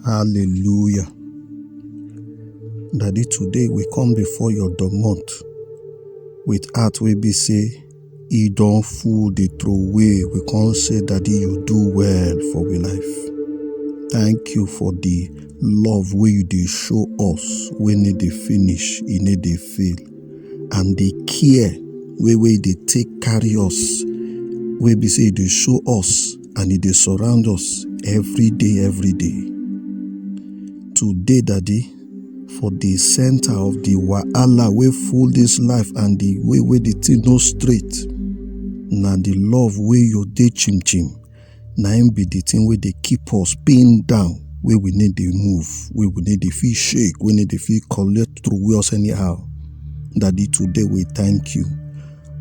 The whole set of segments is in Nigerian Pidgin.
Hallelujah. Daddy, today we come before your domot with heart wey be say e don full dey throway. We come say, Daddy, you do well for we life. Thank you for the love wey you dey show us wey no dey finish, e no dey fail. And the care wey wey you dey take carry us wey be say you dey show us and e dey surround us every day, every day. Today, Daddy, for the center of the wahala wey full this life and the way wey the thing no straight, na the love wey you dey chim chim, na im be the thing wey dey keep us pin down, wey we need dey move, wey we need dey feel shake, wey need dey feel collect through us anyhow. Daddy, today we thank you.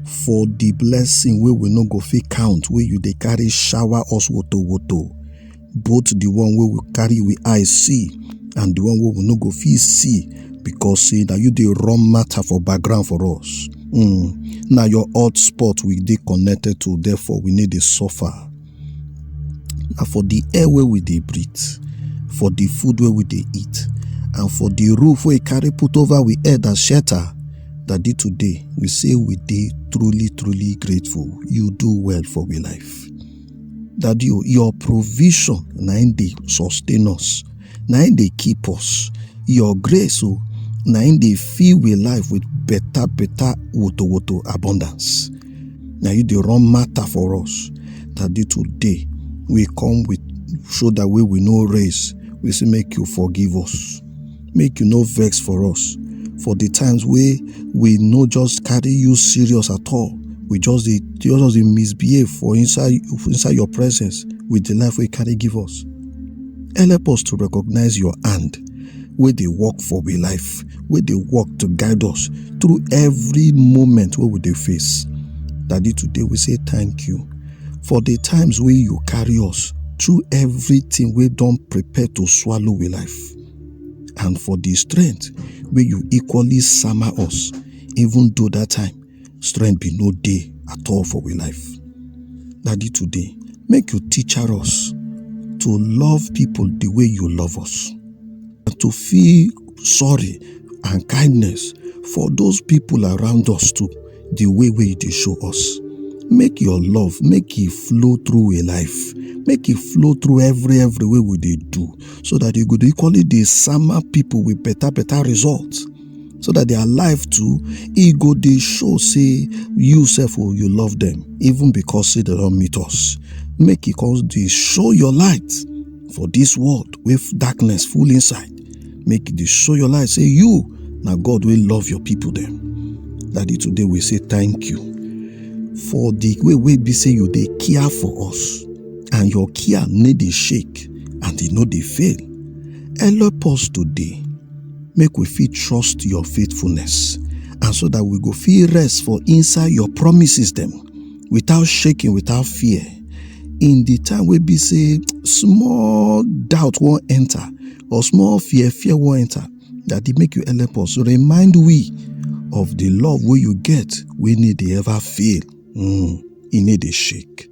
for the blessing wey we no go fit count wey you dey carry shower us woto woto both the one wey we carry we eye see and the one wey we no go fit see because say na you dey run matter for background for us mm, na your hot spot we dey connected to therefore we need dey suffer na for the air wey we dey breathe for the food wey we dey eat and for the roof wey carry put over we head as shelter daddy today we say we dey truly truly grateful you do well for we life daddy o your provision na im dey sustain us na im dey keep us your grace o na im dey fill we life with better better woto woto abundance na you dey run matter for us that day to day we come with shoulder wey we no raise we say make you forgive us make you no vex for us for the times wey we no just carry you serious at all we just dey just dey misbehave for inside inside your presence with the life wey you carry give us help us to recognize your hand wey dey work for we life wey dey work to guide us through every moment wey we dey face daddy today we say thank you for the times wey you carry us through everything wey don prepare to swallow we life and for the strength wey you equally sama us even though that time Strength be no day at all for we life. Daddy, today, make you teach us to love people the way you love us and to feel sorry and kindness for those people around us too, the way we they show us. Make your love, make it flow through a life, make it flow through every every way we they do, so that you could equally the summer people with better better results. so that their life too e go dey show say you sef o you love them even because say they don meet us make e come dey show your light for this world wey f- darkness full inside make e dey show your light say you na god wey love your people dem daddy today we say thank you for the way wey be say you dey care for us and your care no dey shake and e no dey fail help us today make we fit trust your faithfulness and so that we go fit rest for inside your promises dem without shaking without fear in the time wey be say small doubt wan enter or small fear fear wan enter daddy make you help us remind we of the love wey you get wey need dey ever fail Mm, e need a shake.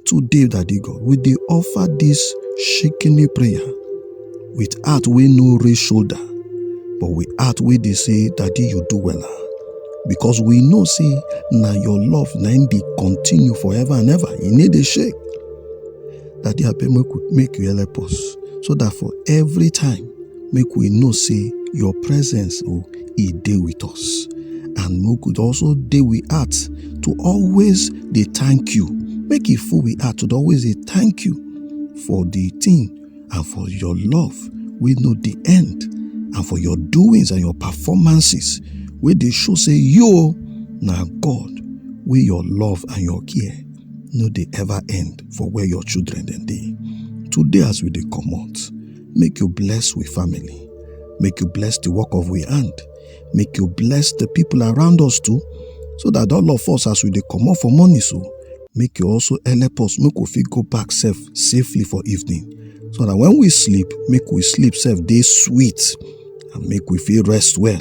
Today, Daddy God, we dey offer this shaking prayer with heart wey no raise shoulder, but with heart wey dey say, Daddy, you do well. Ah. Because we know say na your love na im dey continue forever and ever. E need a shake. Daddy, abeg make, make you help us so that for every time make we know say your presence o oh, e dey with us and make we also dey we heart to always dey thank you make e full we heart to always dey thank you for the thing and for your love wey no dey end and for your doings and your performances wey dey show say you oh, na god wey your love and your care no dey ever end for where your children dem dey today as we dey comot Make you bless we family. Make you bless the work of we hand. Make you bless the people around us too. So that all of us as we dey comot for morning so, make you also help us make we fit go back sef safely for evening. So that when we sleep, make we sleep sef dey sweet and make we fit rest well.